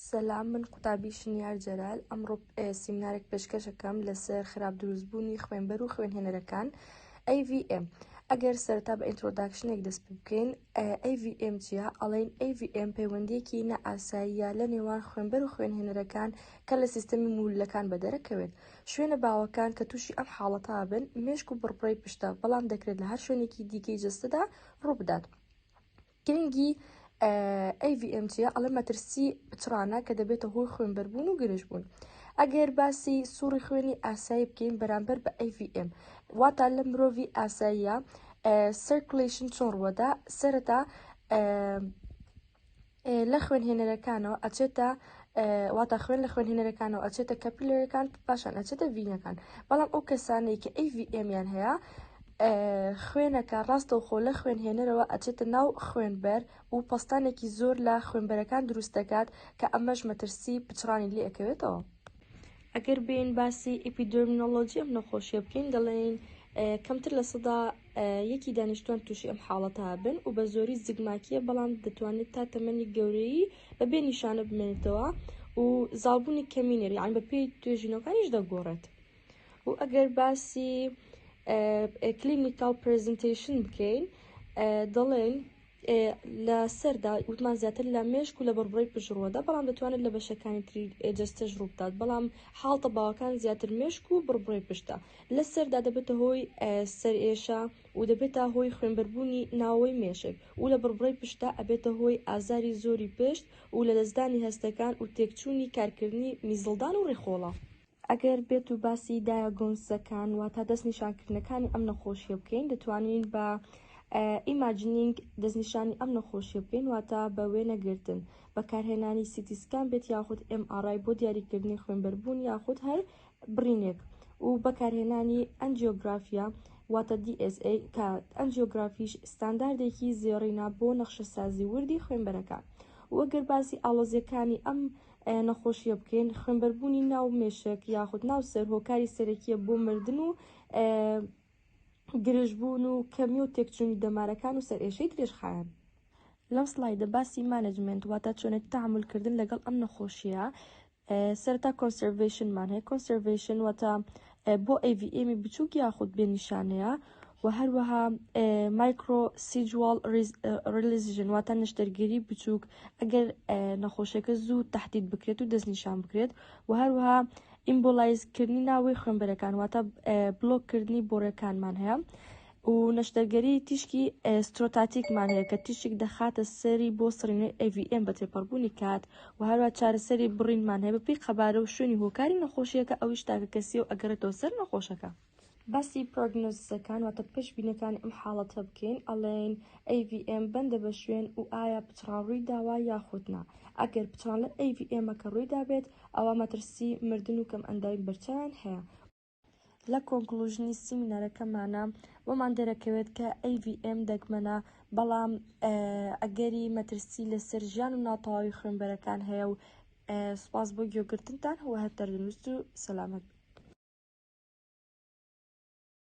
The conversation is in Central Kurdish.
سەلام من قوتابی شنیار جەلال ئەمڕۆ سیمنارێک پێشکەشەکەم لەسەر خراپ دروستبوونی خوێنبەر و خوێنهێنەرەکان AVM ئەگەر سەرتا بە ئینترۆداکشنێک دەست پێ بکەین AVM چیە ئەڵێن AVM پەیوەندیەکی نەئاساییە لە نێوان خوێنبەر و خوێنهێنەرەکان کە لە سیستەمی مولەکان بەدەرەکەوێت شوێنە باوەکان کە تووشی ئەم حاڵەتا بن مێشک و بڕپڕی پشتە بەڵام دەکرێت لە هەر شوێنێکی دیکەی جستەدا ڕووبدات. گرنگی AVM چیە؟ ئەڵێ مەترسی پچڕانە کە دەبێتە هۆی خوێنبەربوون و گرژ بوون. ئەگەر باسی سوڕی خوێنی ئاسایی بکەین بەرامبەر بە AVM واتا لە مرۆڤی ئاساییە سرکلیشن چۆن ڕوەدا سەرەتا لە خوێنهێنەرەکانەوە ئەچێتە واتا خوێن لە خوێنهێنەرەکانەوە ئەچێتە کەپیلەرەکان پاشان ئەچێتە ڤینەکان بەڵام ئەو کەسانەی کە AVM یان هەیە خوێنەکە ڕاستەوخۆ لە خوێنهێنەرەوە ئەچێتە ناو خوێنبەر و پەستانێکی زۆر لە خوێنبەرەکان دروست دەکات کە ئەمەش مەترسی پچڕانی لێ ئەکەوێتەوە. ئەگەر بێین باسی ئیپیدێرمینۆلۆجی ئەم نەخۆشیە بکەین دەڵێین کەمتر لە سەدا یەکی دانیشتوان تووشی ئەم حاڵەتە هابن و بە زۆری زگماکیە بەڵام دەتوانێت تا تەمەنی گەورەی بە بێ نیشانە بمێنێتەوە و زاڵبوونی کەمینێر یان بە پێی توێژینەکانیش دەگۆڕێت و ئەگەر باسی کلینیکال پرزنتیشن بکەین دەڵێن لە سەردا وتمان زیاتر لە مێشک و لە بڕبڕی پشڕوەدا بەڵام دەتوانێت لە بەشەکانی تری جستەش ڕووبدات بەڵام حاڵتە باوەکان زیاتر مێشک و بڕبڕی پشتە لە سەردا دەبێتە هۆی سەرئێشە و دەبێتە هۆی خوێنبەربوونی ناوەی مێشک و لە بڕبڕی پشتە ئەبێتە هۆی ئازاری زۆری پشت و لە دەستدانی هەستەکان و تێکچوونی کارکردنی میزڵدان و ڕێخۆڵە ئەگەر بێتو باسی دایە گونسزەکان واتا دەست نیشانکردنەکانی ئەم نەخۆشیە بکەین دەتوانین بە ئیماجنینگ دەستنیشانی ئەم نەخۆشیە بکەین واتە بە وێنەگرتن بەکارهێنانی سیتیسکان بێت یاخود MRI بۆ دیاریکردنی خوێنبەربوون یاخود هەر بڕینێک و بەکارهێنانی ئەنجیۆگرافیا واتە DSA کە ئەنجیۆگرافیش ستانداردێکی زێڕینە بۆ نەخشەسازی وردی خوێنبەرەکان وەگەر باسی ئاڵۆزیەکانی ئەم ئایا نەخۆشییە بکەین خوێنبەربوونی ناو مێشک یاخود ناو سەر هۆکاری سەرەکیە بۆ مردن و گرژبوون و کەمی و تێکچوونی دەمارەکان و سەر ئێشەی درێژخایەن لەم سلایدە باسی مانجمنت واتە چۆنێت تەعاملکردن لەگەڵ ئەم نەخۆشیە سەرتا کۆنسەرڤەیشنمان هەیە کۆنسەرڤەیشن واتە بۆ ئەیڤیئێمی بچووک یاخود بێ نیشانەیە و هەروەها مایکرۆ سیجوال ڕلیزژن واتە نشتەرگیری بچووک ئەگەر نەخۆشەکە زوو تهدید بکرێت و دەستنیشان بکرێت و هەروەها ئیمبۆلایزکردنی ناوەی خوێنبەرەکان واتە بلۆککردنی بۆڕەکانمان هەیە و نەشتەرگەری تیشکی ئێسترۆتاتیکمان هەیە کە تیشک دەخاتە سەری بۆ سڕینەوەی AVM بە تێپەڕبوونی کات و هەروە چارەسەری بڕینمان هەیە بەپێی قەبارە و شوێنی هۆکاری نەخۆشییەکە ئەویش تاکەکەسیە و ئەگەڕێتەوە سەر نەخۆشەکە. باسی پرۆگنۆزیسەکان واتە پێشبینیەکانی ئەم حاڵەتە بکەین ئەڵێین AVM بەندە بە شوێن و ئایا پچڕان ڕووی داوە یاخود نا ئەگەر پچڕان لە AVM ەکە ڕووی دابێت ئەوا مەترسی مردن و کەم ئەندامی بەرچاویان هەیە لە کۆنکلوژنی سیمینارەکەمانا بۆمان دەرەکەوێت کە AVM دەگمەنە بەڵام ئەگەری مەترسی لەسەر ژیان و ناتەواوی خوێنبەرەکان هەیە و سپاس بۆ گوێگرتنتان هەوە هەر تەندروست و سەلامەت